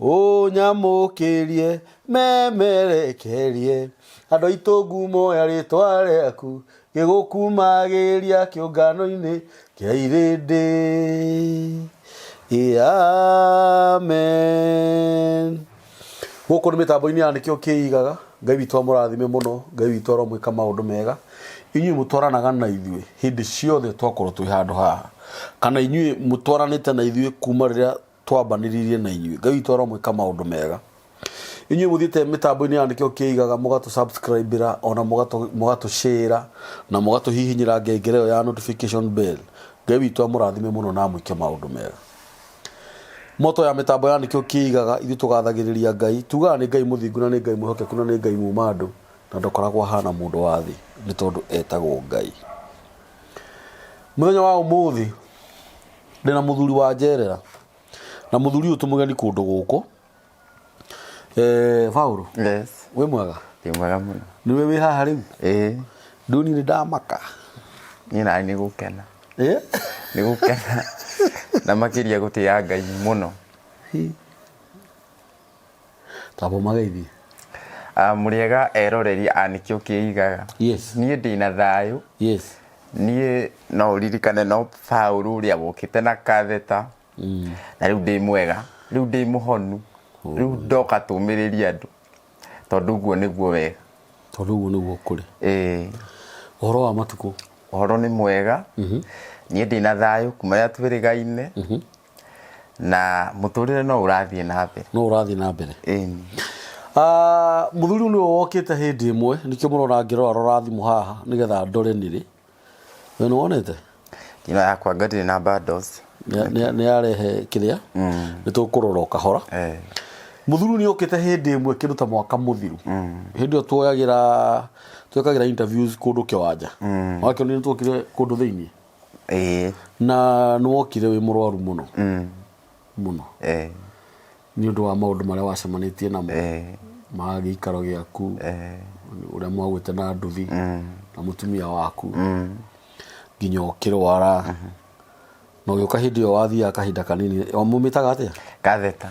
ũnyamũkĩrie memerekerie andũ aitũ ngumo ya rĩtwa rĩaku gĩgũkumagĩria kĩũngano-inĩ kĩa irĩndĩ amen gũkũ nĩ mĩtambo-inĩ ya nĩkĩo kĩigaga ngai witũ amũrathime mũno ngai witũ aromwĩka maũndũ mega inyuĩ mũtwaranaga na ithuĩ hĩndĩ ciothe twakorwo twĩ handũ haha kana inyuĩ mũtwaranĩte na ithuĩ kuma rĩrĩa twambanĩrĩirie na inyuĩ ngai witũ aromwĩka maũndũ mega inyuĩ mũthiĩte mĩtambo-inĩ ya nĩkĩo kĩigaga mũgatũ subscribe ra ona mũgatũ mũgatũ share ra na mũgatũ hihinyĩra ngengere ĩyo ya notification bell ngai witũ amũrathime mũno na amwĩke maũndũ mega moto ya mĩtambo ya nĩkĩo kĩigaga ithuĩ tũgathagĩrĩria ngai tugaga nĩ ngai mũthingu na nĩ ngai mwĩhokeku na nĩ ngai muma andũ na ndokoragwo ahana mũndũ wa thĩ nĩ tondũ etagwo ngai mũthenya wa ũmũthĩ ndĩna mũthuri wa njerera na mũthuri ũyũ tũmũgeni kũndũ gũkũ eh, Paul Yes. wĩ mwega Ndĩ mwega mũno. nĩwe wĩ haha rĩu Ĩĩ. nduni nĩ ndamaka Niĩ nawe nĩ gũkena. Eh? Nĩ gũkena. Na makĩria gũtĩa Ngai mũno. Kaba mũgeithie. Ah, mũrĩega eroreri a nĩkĩo kĩigaga Yes. niĩ ndĩna thayũ Yes. niĩ no ũririkane no paũrũ ũrĩa wokĩte na katheta na rĩu ndĩ mwega rĩu ndĩ mũhonu rĩu ndoka tũmĩrĩria andũ tondũ ũguo nĩguo wega Tondũ ũguo nĩguo kũrĩ. Ĩĩ, Ũhoro wa matukũ. ũhoro nĩ mwega niĩ ndĩna thayũ kuma rĩrĩa twĩrĩgaine na mũtũrĩre no ũrathiĩ na mbere no ũrathiĩ na mbere Ĩni. Ah, mũthuri ũyũ nĩwe wokĩte hĩndĩ ĩmwe nĩkĩo mũrona ngĩrora rora thimũ haha nĩgetha ndore nĩrĩ we nĩwonete ino yakwa ngatirĩ na bundles Nĩ- nĩ- nĩarehe kĩrĩa nĩ tũkũrora o kahora Eh, mũthuri ũyũ nĩokĩte hĩndĩ ĩmwe kĩndũ ta mwaka mũthiru hĩndĩ ĩyo tuoyagĩra twekagĩra interviews kũndũ kĩwanja wakĩonire nĩ twokire kũndũ thĩinĩ ĩĩ na nĩ wokire wĩ mũrwaru mũno mm, mũno eh, nĩ ũndũ wa maũndũ marĩa wacemanĩtie namo eh, ma gĩikaro gĩaku eh, ũrĩa mwagwĩte na nduthi mm, na mũtumia waku mm, nginya ũkĩrwara na ũgĩũka hĩndĩ ĩyo wathiaga kahinda kanini mumĩtaga atĩa katheta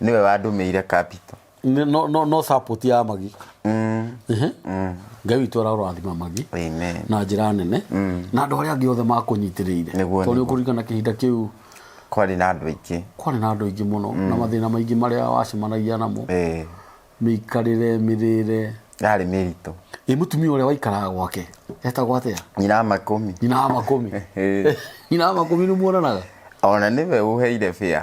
niwe wandumĩire capital Nĩ- no no no support ya magi mm. Ehe. ngai witũ araũrathima magi amen na njĩra nene na andũ arĩa angĩ othe makũnyitĩrĩire Nĩguo, tondũ nĩguo. kũririkana kahinda kĩu kwarĩ na andũ aingĩ kwarĩ na andũ aingĩ mũno na mathĩna maingĩ marĩa wacemanagia namo Eh, mĩikarĩre mĩrĩre yarĩ mĩritũ ĩ mũtumia ũrĩa waikaraga gwake etagwo atĩa nyina wa makũmi nyina wa makũmi Eh. nyina wa makũmi nĩ muonanaga ona nĩwe ũheire bĩa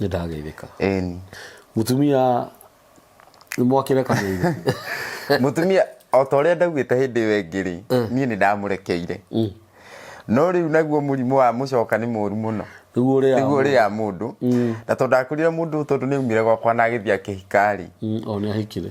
nĩ ndageithĩka Ĩni. mũtumia nĩ mwakĩrekanĩire mũtumia o ta ũrĩa ndaugĩte hĩndĩ ĩyo ĩngĩ rĩ niĩ nĩ ndamũrekeire no rĩu naguo mũrimũ wa mũcoka nĩ mũru mũno nĩguo ũrĩa nĩguo ũrĩa mũndũ na tondũ ndakũrire mũndũ tondũ nĩ aumire gwakwa na agĩthiĩ akĩhika rĩ o nĩ ahikire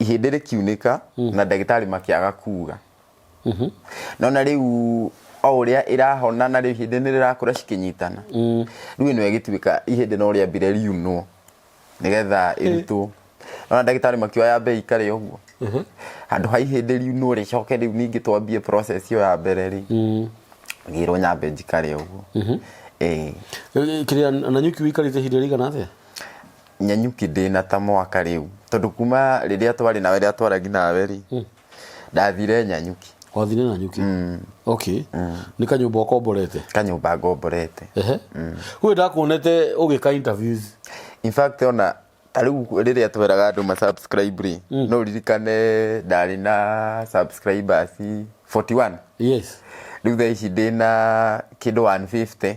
ihĩndĩ rĩkiunĩka na ndagĩtarĩ makĩaga kuuga no na rĩu o ũrĩa ĩrahona na rĩu ihĩndĩ nĩ rĩrakũra cikĩnyitana rĩu ĩno ĩgĩtuĩka ihĩndĩ no rĩambire riunwo nĩgetha ĩrutwo no na ndagĩtarĩ makiuga yambe ĩikare ũguo handũ ha ihĩndĩ riunwo rĩcoke rĩu ningĩ twambie process ĩyo ya mbere rĩ ngĩrwo nyambe njikare ũguo Ĩĩ. kĩrĩa na nyuki ũikarĩte ihinda rĩigana atĩa Nyanyuki ndĩ na ta mwaka rĩu tondũ kuma rĩrĩa twarĩ nawe rĩrĩa twaragi nawe rĩ hmm. ndathire Nyanyuki wathire Nyanyuki mm. okay mm. nĩ kanyũmba ũkomborete kanyũmba ngomborete ehe mm. kwĩ ndakuonete ũgĩka interviews in fact ona ta rĩu rĩrĩa tweraga andũ ma subscribe rĩ mm. no ririkane ndarĩ na subscribers 41 yes rĩu thaa ici ndĩ na kĩndũ 150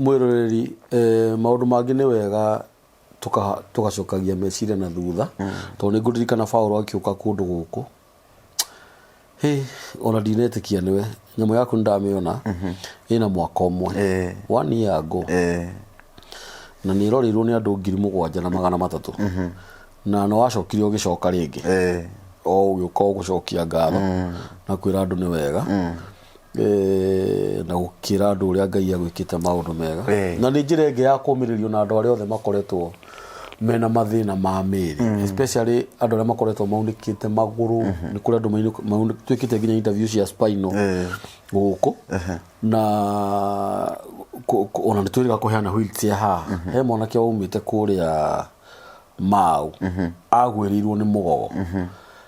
Mwĩroreri, eh, maũndũ mangĩ nĩ wega tũka- tũgacokagia meciria na thutha tondũ nĩ ngũririkana Paulo akiũka kũndũ gũkũ Hĩ, ona ndinetĩkia nĩwe nyamũ yaku nĩndamĩona ĩna mwaka ũmwe Eh. one year ago Eh, na nä ĩroreirwo nä andå ngiri må gwanja na magana matatå na nä wacokire å gä coka rä ngä eh, o å gä å ka å gå cokia ngatho na kwä ra andå nä wega eh, na gukira andu uria ngai agwikite maundu mega Eh. na ni njira ingi ya kumiririo na andu aria othe makoretwo mena mathina ma miri especially andu aria makoretwo maunikite maguru ni kuri andu twikite nginya interview cia spinal Eh. guku na ku- ku- ona nä twä rä ga kå heana wheelchair haha he mwanake waumä te kå rä a mau agwä rä irwo nä må gogo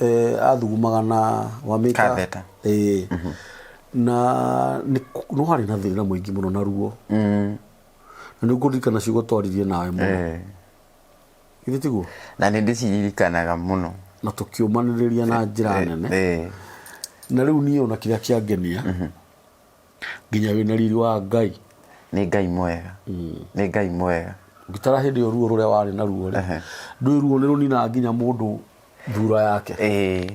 eh, athugumaga na wamĩka Katheta. eh, na nĩ kũ- no harĩ na thĩna mũingĩ mũno na ruo Mm, na nĩ ngũririkana ciugo twaririe nawe mũno eh. githĩ tiguo na nä ndä ciririkanaga må no na tũkĩũmanĩrĩria na njĩra nene eh. na rĩu niĩ ona kĩrĩa kĩangenia nginya wĩ na riri wa ngai nĩ ngai mwega nĩ ngai mwega ngĩtara hĩndĩ ĩyo ruo rũrĩa warĩ naruo rĩ Ehe. ndũĩ ruo nĩ rũninaga nginya mũndũ thura yake ĩĩ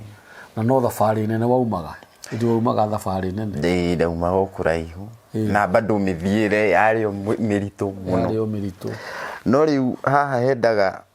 na no thabarĩ nene waumaga ĩndĩ waumaga thabarĩ nene ĩĩ ndaumaga o kũraihu Ĩĩ. na bado mĩthiĩre yarĩ o mĩ- mĩritũ mũno yarĩ o mĩritũ no rĩu haha hendaga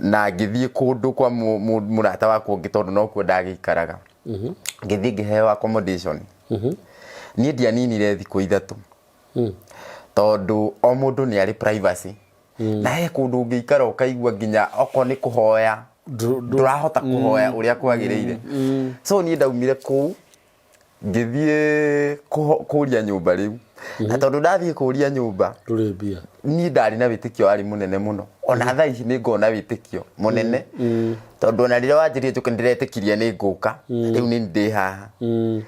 na ngĩthiĩ kũndũ kwa mũ- mũ- mũrata wakwa ũngĩ tondũ nokuo ndagĩikaraga ngĩthiĩ ngĩheo accommodation niĩ ndianinire thikũ ithatũ tondũ o mũndũ nĩ arĩ privacy na he kũndũ ũngĩikara ũkaigua nginya okorwo nĩ kũhoya Ndũ- ndũ- ndũrahota kũhoya ũrĩa kwagĩrĩire so niĩ ndaumire kũu ngĩthiĩ kũho- kũria nyũmba rĩu na tondũ ndathiĩ kũria nyũmba ndũrĩ mbia niĩ ndarĩ na wĩtĩkio warĩ mũnene mũno ona thaa ici nĩ ngona wĩtĩkio mũnene tondũ ona rĩrĩa wanjĩrire njũke ndĩretĩkirie nĩ ngũka rĩu nĩ ndĩ haha Mm,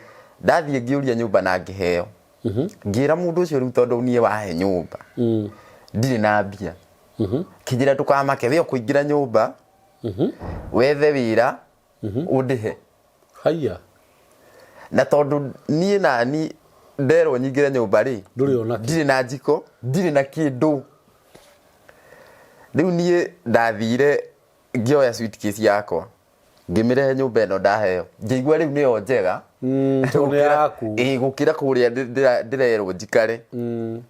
ndathiĩ ngĩũria nyũmba na ngĩheo ngĩra mũndũ ũcio rĩu tondũ niĩ wahe nyũmba mm, ndirĩ na mbia mhm, kĩnjĩra ndũkamake we ũkũingĩra nyũmba wethe wĩra ũndĩhe haiya na tondũ niĩ nani nderwo nyingĩre nyũmba rĩ Ndũrĩ ona kĩ. ndirĩ na njiko ndirĩ na kĩndũ rĩu niĩ ndathire ngĩoya suitcase yakwa ngĩmĩrehe nyũmba ĩno ndaheo ngĩigua rĩu nĩyo njega Mm, tondũ nĩ Gũkĩra- yaku ĩĩ, gũkĩra kũrĩa ndĩ- ndĩra- ndĩrerwo njikare Mm,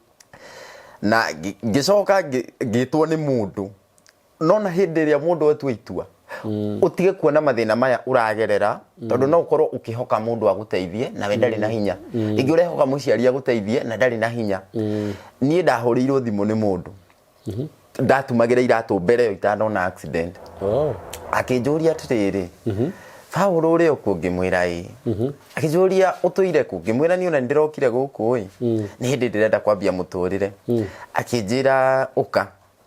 na ngĩ- ngĩcoka ngĩ- ngĩtwo nĩ mũndũ nona hĩndĩ ĩrĩa mũndũ atua itua mm. ũtige kuona mathĩna maya ũragerera mm. tondũ no ũkorwo ũkĩhoka mũndũ agũteithie nawe ndarĩ na mm. hinya ĩngĩ ũrehoka mũciari agũteithie na ndarĩ na hinya niĩ ndahũrĩirwo thimũ nĩ mũndũ mm-hmm. ndatumagĩra iratũ mbere yo itanona accident oh. akĩnjũria atĩrĩrĩ mm-hmm. Paulo å rä a å kuo ngä mwä ra ä akä njå ria å tå ire kå ngä mwä ra nä ona nä ndä rokire gå kå ä nä hä ndä ndä renda kwambia må tå rä re akä njä ra å ka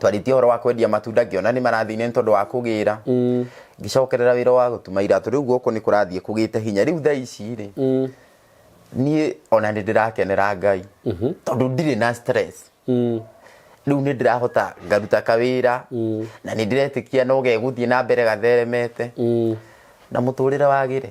twarĩtie ũhoro wa kwendia matunda ngĩona nĩ marathine nĩ tondũ wa kũgĩra ngĩcokerera wĩra wa gũtuma iratũ rĩu gũkũ nĩ kũrathiĩ kũgĩte hinya rĩu thaa ici rĩ niĩ ona nĩ ndĩrakenera ngai tondũ ndirĩ na stress rĩu nĩ ndĩrahota ngaruta kawĩra na nĩ ndĩretĩkia no gegũthiĩ na mbere gatheremete na mũtũrĩre wagĩre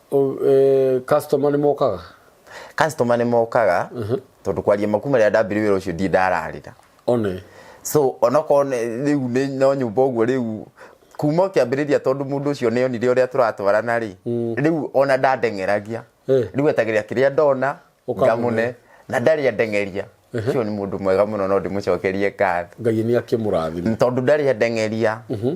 customer nĩ mokaga customer nĩ mokaga mhm. tondũ kwaria makuma rĩa ndambire wĩra ũcio ndi ndararĩra one so onokorwo rĩu nĩ no nyũmba ũguo rĩu kuma ũkĩambĩrĩria tondũ mũndũ ũcio nĩ onire ũrĩa tũratwarana rĩ mm. rĩu ona ndandeng'eragia eh. rĩu etagĩrĩra kĩrĩa ndona ngamũne na ndarĩ andengeria ũcio nĩ mũndũ mwega mũno no ndĩmũcokerie ngatho ngai nĩ akĩmũrathima tondũ ndarĩ andengeria mhm.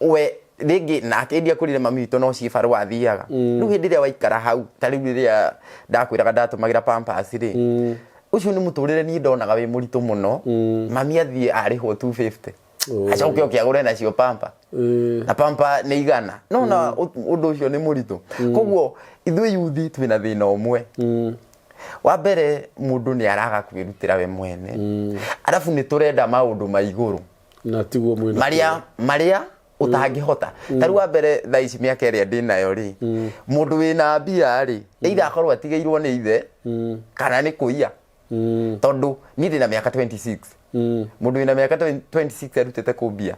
we rĩngĩ nake ndi akũrire mami witũ no ciĩ barũa athiaga mm. rĩu hĩndĩ ĩrĩa waikara hau ta rĩu rĩrĩa ndakwĩraga ndatũmagĩra pampers rĩ mm. ũcio nĩ mũtũrĩre niĩ ndonaga wĩ mũritũ mũno mm. mami athiĩ arĩhwo 250 oh. acoke oke agũre nacio pampa mm. na pampa nĩ igana no na mm. ũndũ ũcio nĩ mũritũ mm. koguo ithuĩ yuthi twĩna thĩna ũmwe mm wa mbere mundu ni araga kwirutira we mwene mm. arabu ni turenda maundu ma iguru na tiguo mwĩna marĩa marĩa ũtangĩhota ta rĩu wa mbere thaa ici mĩaka ĩrĩa ndĩ nayo rĩ mũndũ wĩna mbia rĩ either akorwo atigĩirwo nĩ ithe kana nĩ kũiya Mm, tondũ niĩ ndĩ na mĩaka 26 mm, mũndũ wĩna mĩaka 20 26 arutĩte kũmbia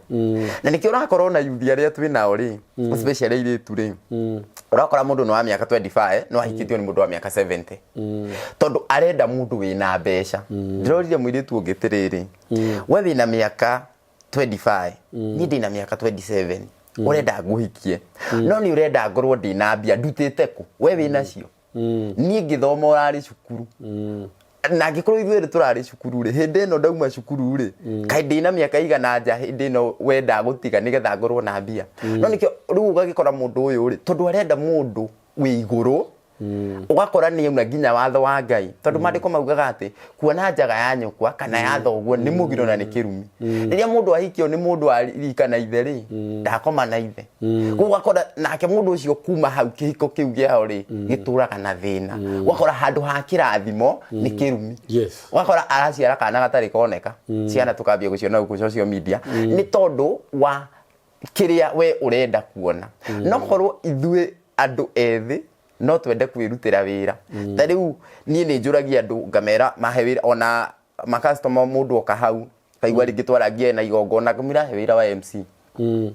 na nĩkĩo ũrakorwo na yuthi arĩa twĩ nao rĩ especially airĩtu rĩ mm, ũrakora mũndũ nĩ wa mĩaka 25 no ahikĩtio nĩ mũndũ wa mĩaka 70 tondũ arenda mũndũ wĩna mbeca ndĩrorire mũirĩtu ũngĩ tĩrĩrĩ we wĩna mĩaka 25 niĩ ndĩna mĩaka 27 ũrenda ngũhikie no nĩ ũrenda ngorwo ndĩna mbia ndutĩte kũ we wĩnacio niĩ ngĩthoma ũrarĩ cukuru na ngĩkorwo ithuĩ erĩ tũrarĩ cukuru rĩ hĩndĩ ĩno ndauma cukuru rĩ kaĩ ndĩna mĩaka igana nja hĩndĩ ĩno wenda gũtiga nĩgetha ngorwo na mbia no nĩkĩo rĩu ũgagĩkora mũndũ ũyũ rĩ tondũ arenda mũndũ wĩ igũrũ mm. ũgakora nĩ auna nginya watho wa ngai tondũ mm. maandĩko maugaga atĩ kuona njaga ya nyũkwa kana ya mm. thoguo nĩ mũgiro na nĩ kĩrumi rĩrĩa mũndũ ahikio nĩ mũndũ arika na ithe rĩ ndakoma na ithe koguo ũgakora nake mũndũ ũcio kuma hau kĩhiko kĩu gĩao rĩ gĩtũraga na thĩna ũgakora handũ ha kĩrathimo nĩ kĩrumi ũgakora araciara kana gatarĩ koneka ciana tũkambia gũciona gũkũ social media nĩ tondũ wa kĩrĩa we ũrenda kuona mm. no korwo ithuĩ andũ ethĩ no twende kwĩrutĩra wĩra mm. ta rĩu niĩ nĩ njũragia andũ ngamera mahe wĩra ona makastoma mũndũ oka hau kaigua mm. rĩngĩ twarangie na igongona kamwĩra he wĩra wa mc mm.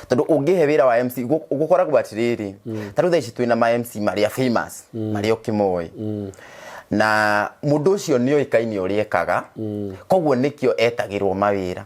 tondå å ngä he wä ra wa mc gå koragwo atä rä rä mm. tarä u thaa ici twä na ma mc marä a famous mm. marä a å kä moä mm na mundu ucio ni oikaini uri ekaga mm. koguo nikio etagirwo mawira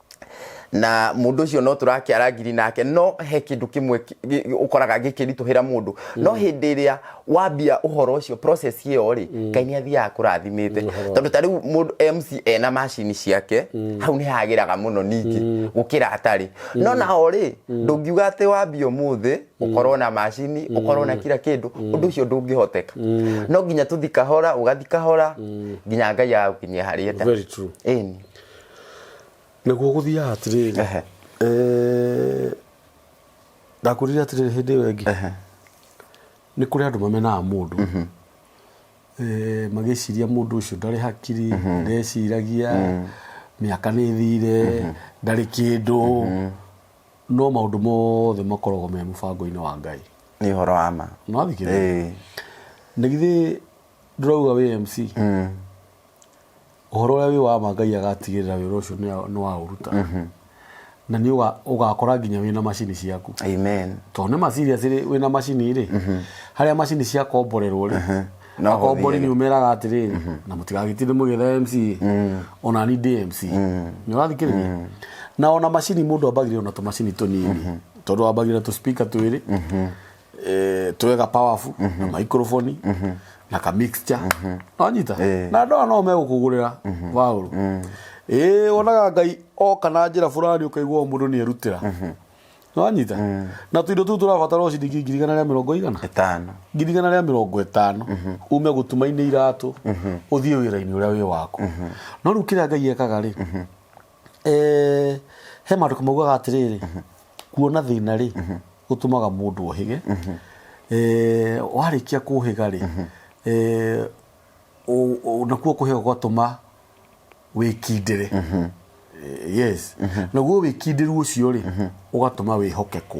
na mundu ucio no turakiara ngiri nake no he kindu kimwe ki- gi- ukoraga gikirituhira mundu no hindi iria wambia uhoro ucio process iyo ri ngai ni athiaga kurathimite tondu ta riu mundu MC ena macini ciake hau ni hagiraga muno ningi gukira atari no nao ri ndungiuga ati wambia umuthi ukorwo na macini ukorwo na kira kindu undu ucio ndungihoteka no nginya tuthi kahora ugathi kahora nginya ngai agagukinyia haria ta very true Ĩni. Naguo gũthiaga atĩrĩrĩ Ehe. eh, ndakwĩrire atĩrĩrĩ hĩndĩ ĩyo ĩngĩ Ehe. nĩ kũrĩ andũ mamenaga mũndũ Eh, magĩciria mũndũ ũcio ndarĩ hakiri ndeciragia mĩaka nĩ thire ndarĩ kĩndũ no maũndũ mothe makoragwo me mũbango-inĩ wa ngai nĩ ũhoro wa ma nĩwathikĩrĩria Ĩĩ. nä githä ndårauga wä mc ũhoro ũrĩa wĩ wa ma ngai agatigĩrĩra wĩra ũcio nĩ- nĩ waũruta na nĩ ũga- ũgakora nginya wĩna macini ciaku amen tondũ nĩ macini acĩrĩ wĩna macini rĩ harĩa macini ciakomborerwo rĩ No akombori ũhũthĩre. nĩ ũmeraga atĩrĩrĩ na mũtigagĩtinde mũgĩetha mc ona ni ndĩ mc nĩ ũrathikĩrĩria na ona macini mũndũ ambagĩrĩra na tũmacini tũnini tondũ wambagĩrĩra tũspika twĩrĩ eh, twega powerful na microphone na ka mixture wanyita Eh. na ndoa no megũkũgũrĩra waũru ĩĩ wonaga ngai oka na njĩra fulani ũkaigua o mũndũ nĩerutĩra wanyita na tũindo tũu tũrabatara o ciringi ngiri igana rĩa mĩrongo igana ĩtano ngiri igana rĩa mĩrongo ĩtano ume gũtuma-inĩ iratũ ũthiĩ wĩra-inĩ ũrĩa wĩ waku no rĩu kĩrĩa ngai ekaga rĩ Eh, he maandĩko maugaga atĩrĩrĩ kuona thĩna rĩ gũtũmaga mũndũ ohĩge Eh, warĩkia kũhĩga rĩ eh, ũ- ũ- nakuo kũhĩga gwatũma wĩkindĩre Eh, yes naguo wĩkindĩru ũcio rĩ ũgatũma wĩhokekwo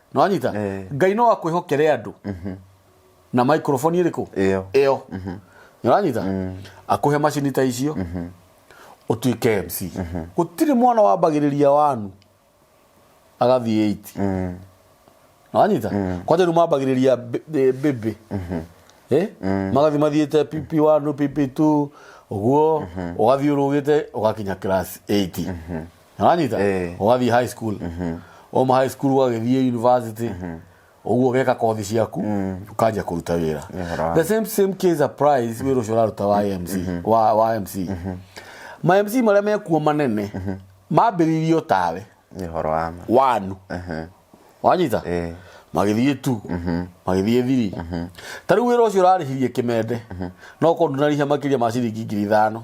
nĩwanyita Eh. ngai no akwĩhokere andũ na microphone ĩrĩkũ Ĩyo. ĩyo nĩwanyita akũhe macini ta icio ũtuĩke mc gũtirĩ mwana wambagĩrĩria wanu agathiĩ 8 nĩwanyita kwanja rĩu mambagĩrĩria mbi- eh, mbĩmbĩ Eh? magathi mathiĩte pp one pp two ũguo ũgathiĩ ũrũgĩte ũgakinya class 8 nĩwanyita Eh. ũgathiĩ high school wauma high school ũgagĩthiĩ university ũguo ũgeka kothi ciaku ũkanjia kũruta wĩra Nĩhoro. the same same case applies wĩra ũcio ũraruta wa MC wa wa MC ma MC marĩa mekuo manene mambĩrĩirio tawe nä horo wa ma wanu wanyita Eh. magĩthiĩ tu magĩthiĩ thiri ta rĩu wĩra ũcio ũrarĩhirie kĩmende no korwo ndunarĩhia makĩria ma ciringi ngiri ithano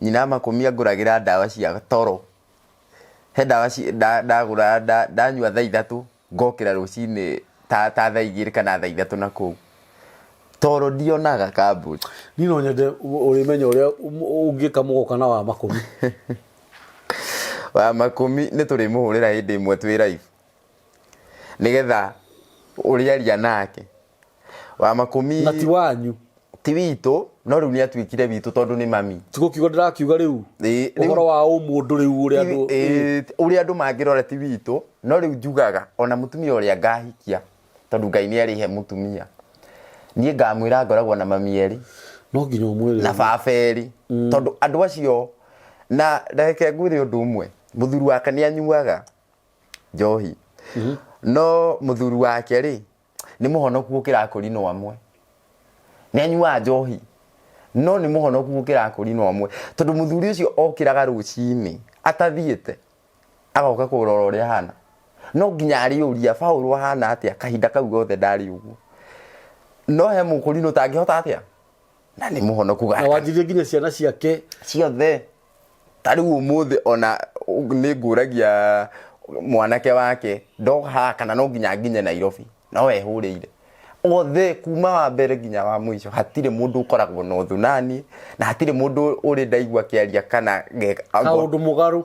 Nyina amakũmia ngũragĩra ndawa cia toro. He ndawa ndagũra ndanyua thaa ithatũ ngokĩra rũcinĩ ta thaa igĩrĩ kana thaa ithatũ na kũu toro ndionaga kambuni niĩ no nyende ũrĩmenya ũrĩa ũngĩka mũgoka na wa makũmi wa makũmi nĩ tũrĩmũhũrĩra hĩndĩ ĩmwe twĩ raibu nĩgetha ũrĩaria nake wa makũmi na ti wanyu ti witũ no rĩu nĩ atuĩkire witũ tondũ nĩ mami tiguo kiugo ndĩrakiuga rĩu Ĩĩ, rĩu- ũhoro wa ũmũndũ rĩu ũrĩa andũ Ĩĩ, ũrĩa andũ mangĩrora ti witũ no rĩu njugaga ona mũtumia ũrĩa ngahikia tondũ ngai nĩ arĩhe mũtumia niĩ ngamwĩra ngoragwo na mami erĩ no nginya ũmwĩre na baba erĩ tondũ andũ acio na reke ngwĩre ũndũ ũmwe mũthuri wake nĩ anyuaga njohi no mũthuri wake rĩ nĩ mũhonoku gũkĩra kũri no amwe nĩ anyuaga njohi no nĩ mũhonoku gũkĩra kũri no amwe tondũ mũthuri ũcio okĩraga rũcinĩ atathiĩte agoka kũrora ũrĩa hana no nginya arĩũria Paũlũ ahana atĩa kahinda kau gothe ndarĩ ũguo no he mũkũri no tangĩhota atĩa na nĩ mũhonoku gaka na wanjirie nginya ciana ciake ciothe ta rĩu ũmũthĩ ona nĩ ngũragia mwanake wake ndoka haha kana no nginya nginye nairobi no ehũrĩire othe kuma wa mbere nginya wa mũico hatirĩ mũndũ ũkoragwo na ũthũ nani na hatirĩ mũndũ ũrĩ ndaigua kĩaria kana ge- kaundu mugaru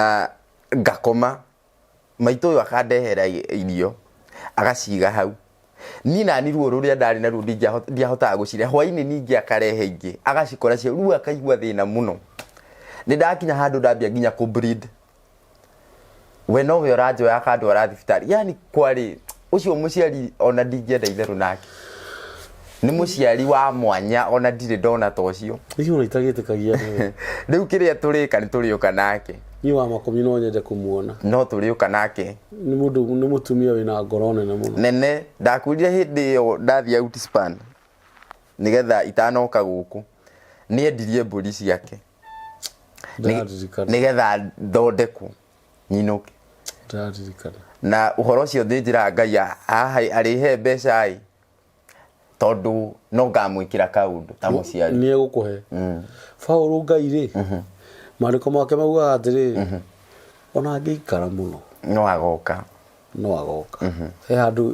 ah ngakoma, maitũ ũyũ akandehera irio agaciga hau, niĩ naniĩ ruo rũrĩa ndarĩ naruo ndiahotaga gũcirĩa, hwainĩ ningĩ akarehe ingĩ agacikora cio, rĩu akaigua thĩna mũno, nĩndakinya handũ ndambia nginya kũ bleed. we nowe ũranjoya akandwara thibitarĩ yani kwarĩ ũcio mũciari ona ndingĩenda itherũ nake nĩ mũciari wa mwanya ona ndirĩ ndona ta ũcio hihi ona itagĩtĩkagia nĩ rĩu kĩrĩa tũrĩka nĩ tũrĩũka nake niĩ wa makũmi no nyende kũmuona no tũrĩũka nake nĩ mũndũ nĩ mũtumia wĩna ngoro nene mũno nene ndakwĩrire hĩndĩ ĩyo ndathiĩ outspan nĩgetha itanoka gũkũ nĩendirie mbũri ciake ndaririkana nĩgetha thondekwo nyinũke ndaririkana na ũhoro ũcio thĩ njĩra ngai a- haha arĩhe mbeca ĩ tondũ no ngamwĩkĩra kaũndũ ta mũciari nä egå kå he baå ngai rä maandä ko make maugaga atä rä ona angä ikara må no no agoka no agoka he handå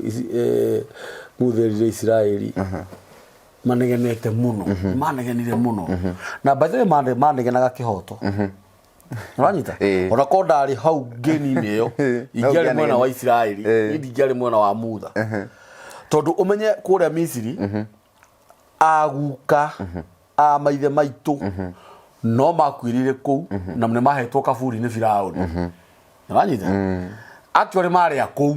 ngutherire isiraäri manegenete muno manegenire muno na by the way mane- manegenaga kihoto uranyita Eh. ona ko ndarĩ hau ngeni-inĩ ĩyo ingĩarĩ mwena ũngĩanegene. wa isiraeli Eh. nĩ ndingĩarĩ mwena wa mutha tondũ ũmenye kũrĩa misiri aguka a maithe maitũ no makuĩrĩire kũu na nĩ mahetwo kaburi nĩ firaũni uranyita actually marĩa kũu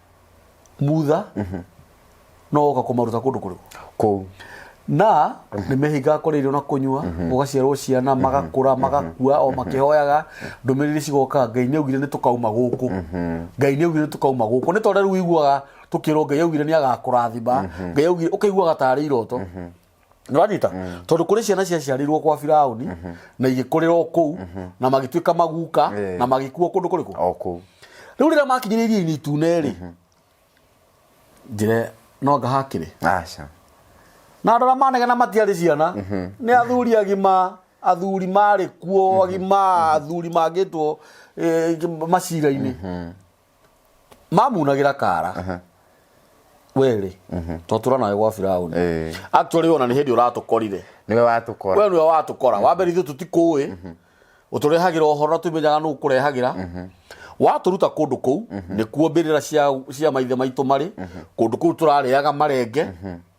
mutha no oka kũmaruta kũndũ kũrĩkũ kũu na nĩ mehingaga kũrĩa irio na kũnyua gũgaciarwo ciana magakũra magakua o makĩhoyaga ndũmĩrĩri cigoka ngai nĩ augire nĩ tũkauma gũkũ ngai nĩ augire nĩ tũkauma gũkũ nĩ tondũ rĩu wiguaga tũkĩrwo ngai augire nĩ agakũrathima ngai augire ũkaiguaga tarĩ iroto nĩwanyita tondũ kũrĩ ciana ciaciarĩirwo kwa firauni na igĩkũrĩra o kũu na magĩtuĩka maguka Eh. na magĩkuo kũndũ kũrĩkũ o kũu rĩu rĩrĩa makinyire iria-inĩ itune rĩ njĩre no anga hakĩrĩ aca na andå arä a manegena matiarä ciana nä athuri agima athuri marä kuo agima athuri mangä two macira-inä mamunagĩra kara werĩ twatũra nawe gwa biraũni Eh. actually ona nĩ hĩndĩ ũratũkorire niwe watũkora we nĩwe watũkora wa mbere ithuĩ tũtikũĩ ũtũrehagĩra ũhoro na tũmenyaga nũ ũkũrehagĩra watũruta kũndũ kũu nĩkuo mbĩrĩra cia, cia maithe maitũ marĩ kũndũ kũu tũrarĩaga marenge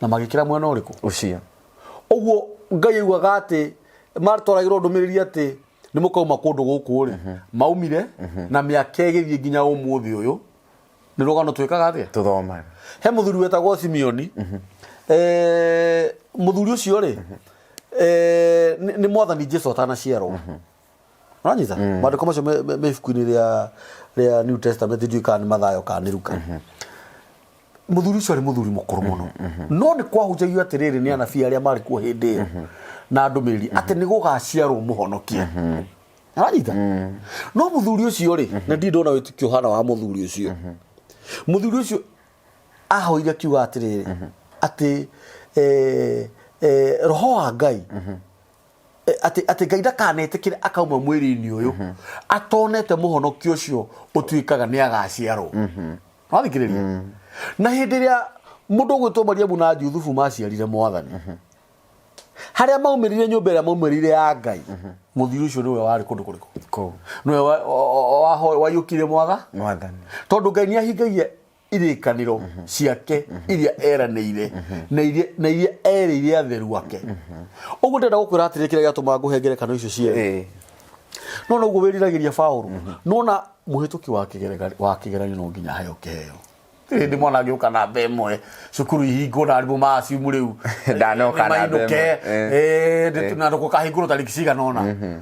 na magĩkĩra mwena ũrĩkũ ucio ũguo ngai augaga atĩ matwaragĩrwo ndũmĩrĩri atĩ nĩ mũkauma kũndũ gũkũ rĩ maumire na mĩaka ĩgĩthiĩ nginya ũmũthĩ ũyũ nĩ rũgano twĩkaga atĩa tuthomaga he mũthuri wetagwo simeoni Eh, mũthuri ũcio rĩ eh, nĩ nĩ mwathani jesu atanaciarwo ũranyita maandĩko macio me- me me ibuku-inĩ rĩa rĩa new testament ndiũĩ kana nĩ mathayo kana nĩ ruka mũthuri ũcio arĩ mũthuri mũkũrũ mũno no nĩ kwahunjagio atĩrĩrĩ nĩ anabii arĩa marĩ kuo hĩndĩ ĩyo na ndũmĩrĩri atĩ nĩ gũgaciarwo mũhonokia aranyita no mũthuri ũcio rĩ na ndirĩ ndona wĩtĩkio hana wa mũthuri ũcio mũthuri ũcio ahoire akiuga atĩrĩrĩ atĩ eh, eh, roho wa ngai eh, atĩ atĩ ngai ndakanetĩkĩre akauma mwĩrĩ-inĩ ũyũ mhm. atonete mũhonokia ũcio ũtuĩkaga nĩ agaciarwo mhm. wathikĩrĩria mhm. na hĩndĩ ĩrĩa mũndũ ũgwĩtwo mariamu na juthubu maciarire mwathani harĩa maumĩrire nyũmba ĩrĩa maumĩrire ya ngai mũthiri ũcio nĩwe warĩ kũndũ kũrĩkũ nĩwe waiyũkire mwaga tondũ ngai nĩ ahingagia irĩkanĩro ciake iria eranĩire na iria- na iria erĩire atheru ake ũguo ndenda gũkwĩra atĩrĩ kĩrĩa gĩatũma ngũhe ngerekano icio cierĩ Eh, no noguo wĩriragĩria Paulo nona mũhĩtũki wa kĩgerega- wa kĩgeranio no nginya aheo kĩheo Rĩrĩ ndĩ mwana ngĩũka na mbe ĩmwe cukuru ihingwo na arimũ maacimu rĩu Ndanoka na mbe ĩmwe, eh. na ndũkahingũrwo tarĩki cigana ũna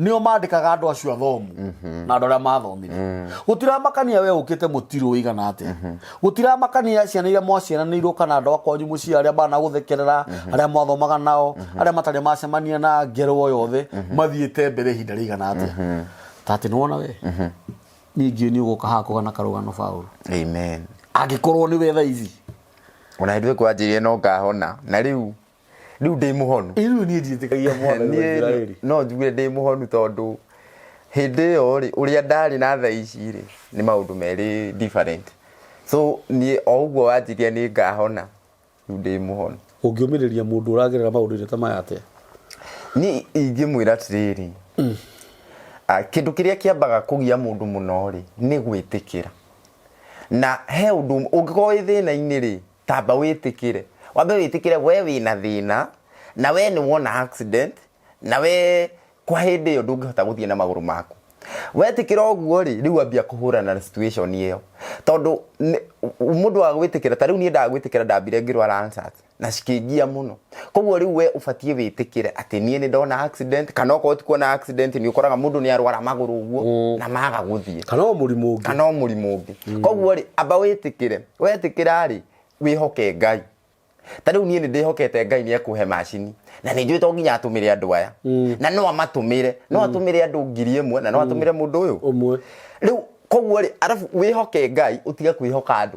nĩo mandĩkaga andũ acio athomu na andũ arĩa mathomire gũtiramakania we ũkĩte mũtirũ wĩigana atĩa gũtiramakania ciana iria mwaciaranĩirwo kana andũ akwanyu mũciĩ arĩa managũthekerera arĩa mwathomaga nao arĩa matarĩ macemania na ngero o yothe mathiĩte mbere ihinda rĩigana atĩa ta atĩ nĩwona we ningĩ nĩ ũgũka haha kũgana karũgano baũrũ amen angĩkorwo nĩ we thaa ici ona hĩndĩ ĩyo kwanjĩrĩria no ngahona na rĩu rĩu ndĩ mũhonu Rĩu niĩ ndiĩtĩkagia mwana wa Niĩ Isiraeli. no njuge ndĩ mũhonu tondũ hĩndĩ ĩyo rĩ ũrĩa ndarĩ na tha ici rĩ nĩ maũndũ merĩ different so niĩ o ũguo wanjiria nĩ ngahona rĩu ndĩ mũhonu Ũngĩũmĩrĩria mũndũ ũragerera maũndũ-inĩ ta maya atĩa? niĩ ingĩmwĩra atĩrĩrĩ ah, kĩndũ kĩrĩa kĩambaga kũgia mũndũ mũno rĩ nĩ gwĩtĩkĩra na he ũndũ ũngĩkorwo wĩ thĩna-inĩ rĩ tamba wĩtĩkĩre wambe wĩtĩkĩre we wĩna thĩna na we nĩ wona accident na we kwa hĩndĩ ĩyo ndũngĩhota gũthiĩ na magũrũ maku wetĩkĩra ũguo rĩ rĩu ambia kũhũrana na situation ĩyo tondũ nĩ- mũndũ wa gwĩtĩkĩra ta rĩu niĩ ndagwĩtĩkĩra ndambire ngĩrwara ansat na cikĩngia mũno koguo rĩu we ũbatiĩ wĩtĩkĩre atĩ niĩ nĩ ndona accident kana okorwo ti kuona accident nĩ ũkoraga mũndũ nĩ arwara magũrũ ũguo na maga gũthiĩ kana o mũrimũ ũngĩ kana o mũrimũ ũngĩ koguo rĩ amba wĩtĩkĩre wetĩkĩra rĩ wĩhoke ngai ta rĩu niĩ nĩ ndĩhokete ngai nĩ ekũhe macini na nĩ njũĩ to nginya atũmĩre andũ aya na no amatũmĩre no atũmĩre andũ ngiri ĩmwe na no atũmĩre mũndũ ũyũ ũmwe rĩu koguo rĩ arabu wĩhoke ngai ũtige kwĩhoka andũ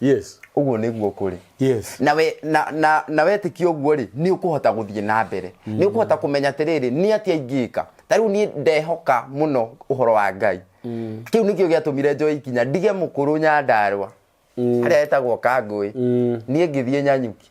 yes ũguo nĩguo kũrĩ yes na we na na na wetĩkia ũguo rĩ nĩ ũkũhota gũthiĩ na mbere nĩ ũkũhota kũmenya atĩrĩrĩ nĩ atĩa ingĩka ta rĩu niĩ ndehoka mũno ũhoro wa ngai kĩu nĩkĩo gĩatũmire njoe ikinya ndige mũkũrũ nyandarwa harĩa etagwo kangũĩ niĩ ngĩthiĩ nyanyuki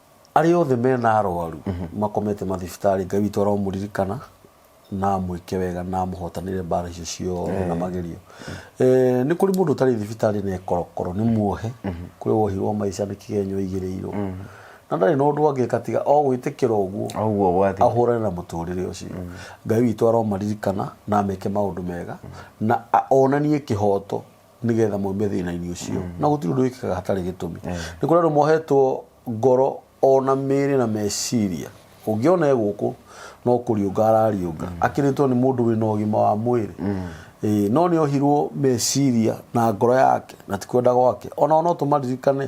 arĩa othe mena arwaru makomete mathibitarĩ ngai witũ aromũririkana na amwĩke wega na amũhotanĩre mbara icio ciothe na magerio Eh, nĩ kũrĩ mũndũ ũtarĩ thibitarĩ na ekorokoro nĩ muohe kũrĩ wohirwo maica nĩ kĩgenyo aigĩrĩirwo na ndarĩ na ũndũ angĩka tiga o gwĩtĩkĩra ũguo Oguo gwathi. ahũrane na mũtũrĩre ũcio ngai witũ aromaririkana na ameke maũndũ mega na a- onanie kĩhoto nĩgetha maume thĩna-inĩ ũcio na gũtirĩ ũndũ wĩkĩkaga hatarĩ gĩtũmi nĩ kũrĩ andũ mohetwo ngoro ona mĩĩrĩ na meciria ũngĩona e gũkũ no kũriũnga arariũnga akĩrĩtwo nĩ mũndũ wĩna ũgima wa mwĩrĩ Ĩĩ, no nĩ ohirwo meciria na ngoro yake na ti kwenda gwake ona ona ũtũmaririkane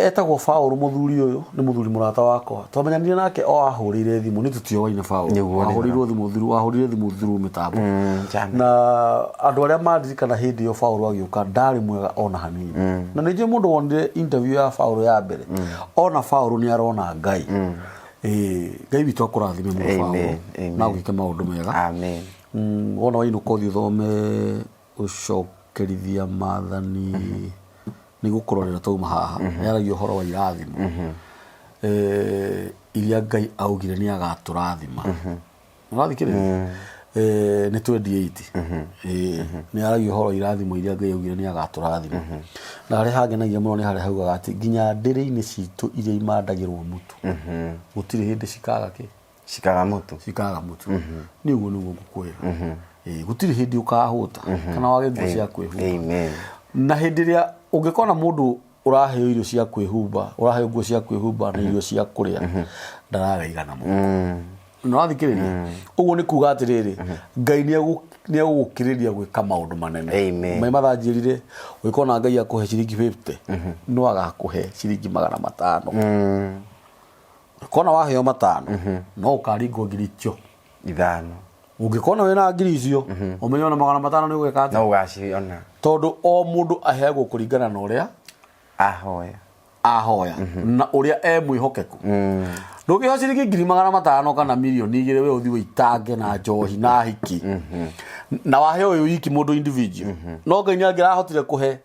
Etagwo Paul mũthuri ũyũ nĩ mũthuri mũrata wakwa. Twamenyanire nake o ahũrĩire thimũ nĩ tũtioaine Paul. Nĩguo, nĩ Ahũrĩirwo thimũ through ahũrĩire thimũ through mĩtambo. German. Na andũ arĩa mandirikana hĩndĩ ĩyo Paul agĩũka ndarĩ mwega ona hanini. Na nĩ njũĩ mũndũ wonire interview ya Paul ya mbere. Ona Paul nĩ arona Ngai. Ĩĩ, Ngai witũ akũrathime mũno Paul. Amen, amen. Na ũgĩke maũndũ mega. Amen. Mm, wona wainũka ũthiĩ ũthome Gũcokerithia maathani nĩ gũkũrorera twauma haha, yaragia ũhoro wa irathimo iria Ngai augire nĩ agatũrathima. Nĩ ũrathikĩrĩria? Nĩ twendi ĩiti. Nĩ yaragia ũhoro wa irathimo iria Ngai augire nĩ agatũrathima. Na harĩa hangenagia mũno nĩ harĩa haugaga atĩ nginya ndĩrĩ-inĩ citũ iria imandagĩrwo mũtu gũtirĩ hĩndĩ cikaga kĩ? cikaga mũtu cikaga mũtu nĩ ũguo nĩguo ngũkwĩra Ĩĩ, gũtirĩ hĩndĩ ũkahũta kana wage nguo cia kwĩhumba amen na hĩndĩ ĩrĩa ũngĩkona mũndũ ũraheo irio cia kwĩhumba ũraheo nguo cia kwĩhumba na irio cia kũrĩa ndarareigana mũno na wathikĩrĩria ũguo nĩ kuga atĩrĩrĩ ngai nĩegũgũkĩrĩria gwĩka maũndũ manene Amen. maĩ mathanjĩrire ũgĩkona ngai akũhe ciringi 50 no agakũhe ciringi magana matano kona waheo matano mhm. no ukaringwo ngiri icio ithano ũngĩkona wĩna ngiri icio mhm. ũmenye ona magana matano nĩ ũgwĩka atĩ no ũgaciona tondũ o mũndũ aheagwo kũringana na ũrĩa ahoya ahoya mhm. na ũrĩa e mwĩhokeku mm. ndũngĩha ciringi ngiri magana matano kana mirioni igĩrĩ we ũthiĩ wĩitange na njohi na hiki na waheo ũyũ wiki mũndũ individual no ngai nĩ angĩrahotire kũhe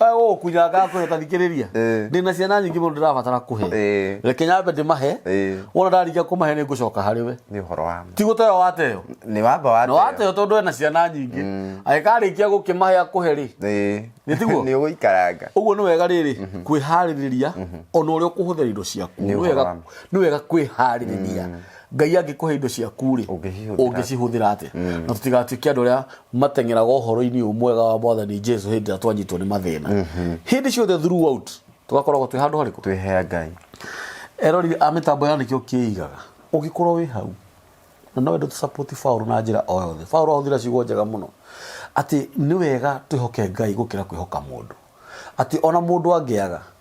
Wewe wewe kuja gaku utathikiriria. Eh. Ndina ciana nyingi mundu ndirabatara kuhe. Eh. Reke nyambe ndimahe. Eh. Wona ndarikia kumahe ni ngucoka hari we. nä å horo wa Ti guteo wateo. nä wamba wa Na wateo tondu ena ciana nyingi. Agikarikia gukimahe akuhe ri. Nĩ tiguo? nä å gå ikaranga Uguo ni wega riri kwihariria ona uria ukuhuthira indo ciaku. Nĩ Ni ũhoro wega wa ma. ni wega kwihariria. ngai angĩkũhe indo ciaku-rĩ Ũngĩcihũthĩra- ũngĩcihũthĩra atĩa Mm. na tũtigatuĩke andũ arĩa mateng'eraga ũhoro-inĩ ũyũ mwega wa mwathani jesu hĩndĩ ĩrĩa twanyitwo nĩ mathĩna hĩndĩ ciothe throughout tũgakoragwo twĩ handũ harĩkũ twĩhea ngai erorire a mĩtambo ya nĩkĩo kĩigaga ũngĩkorwo wĩ hau na no wendo tũsapoti baũrũ na njĩra o yothe baũrũ ahũthĩra ciugo njega mũno atĩ nĩ wega twĩhoke ngai gũkĩra kwĩhoka mũndũ atĩ ona mũndũ angĩaga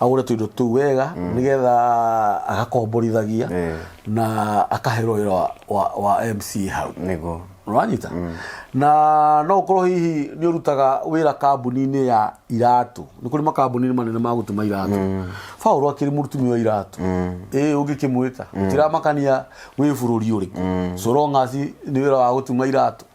agũre tũindo tũu wega nĩgetha agakomborithagia Eh. na akaherwo wĩra wa, wa, wa mc hau nĩguo nĩwanyita na no ũkorwo hihi nĩ ũrutaga wĩra kambuni-inĩ ya iratũ nĩ kũrĩ makambuni manene ma gũtuma iratũ paũlũ akĩrĩ mũrutumi wa iratũ ĩ ũngĩkĩmwĩta ũtiramakania wĩ bũrũri ũrĩkũ so long as nĩ wĩra wa gũtuma iratũ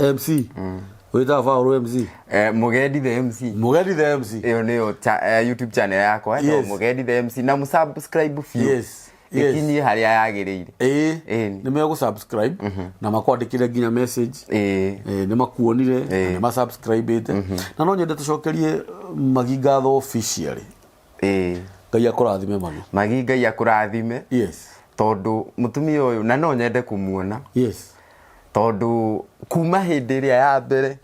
mc wĩtaga baũrũ mc Eh, mugendi the mc mũgendi the mc ĩyo nĩyo cha- eh, youtube channel yakwa Yes. yes. mugendi the mc na mũsubscribe biũ yes yes ĩkinyie harĩa yagĩrĩire ĩĩ Ĩĩ. nĩ megũsubscribe na makwandĩkĩre nginya message Ĩĩ. Eh, nĩ makuonire na nĩ masubscribĩte na no nyende tũcokerie magi ngatho officially ĩĩ ngai akũrathime mami magi ngai akũrathime yes tondũ mũtumia ũyũ na no nyende kũmuona yes tondũ kuma hĩndĩ ĩrĩa ya mbere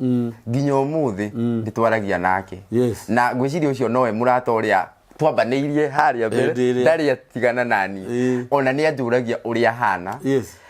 nginya ũmũthĩ nĩ twaragia nake Yes. na ngwĩciria ũcio nowe mũrata ũrĩa twambanĩirie harĩa mbere Hĩndĩ ĩrĩa. ndarĩ atigana nani Ĩĩ. ona nĩ anjũragia ũrĩa hana yes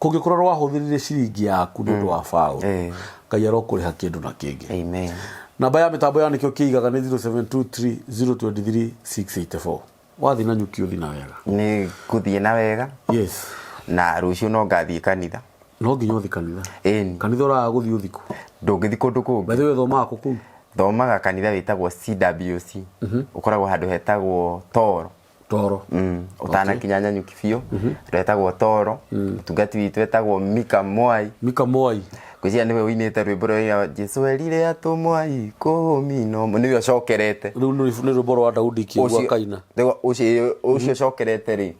kũngĩkorwo nĩ wahũthĩrire ciringi yaku nĩ ũndũ wa baũ Eh. ngai arokũrĩha kĩndũ na kĩngĩ Amen. namba ya mĩtambo ya nĩkĩo kĩigaga nĩ 0723023684 wathiĩ na nyuki ũthi na wega Nĩ ngũthiĩ na wega yes na rũciũ no ngathiĩ kanitha. no nginya ũthi kanitha Ĩni. kanitha ũraga gũthiĩ ũthikũ Ndũngĩthi kũndũ kũngĩ. bethe wĩ thomaga kũ kũu Thomaga kanitha wĩtagwo CWC. Ũkoragwo handũ hetagwo Toro. toro Mm, ũtanakinya nyanyuki biũ retagwo toro mũtungati witũ etagwo mika mwai mika mwai ngwĩciria nĩwe ũinĩte rwĩmbo rwa jesu erire atũ mwai kũmi no nĩwe ũcokerete rä u nä rwä mbo rwa daudi kä gua kaina Rĩu ũcio ũcio ũcokerete rĩ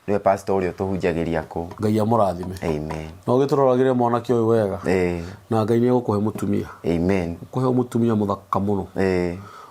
nĩwe pastor ũrĩa ũtũhunjagĩria kũu ngai amå rathime amen na å gä tå roragä re mwanake å yå wega Eh, na ngai nä egå kå he må tumia amen kå he må tumia må thaka må no Eh,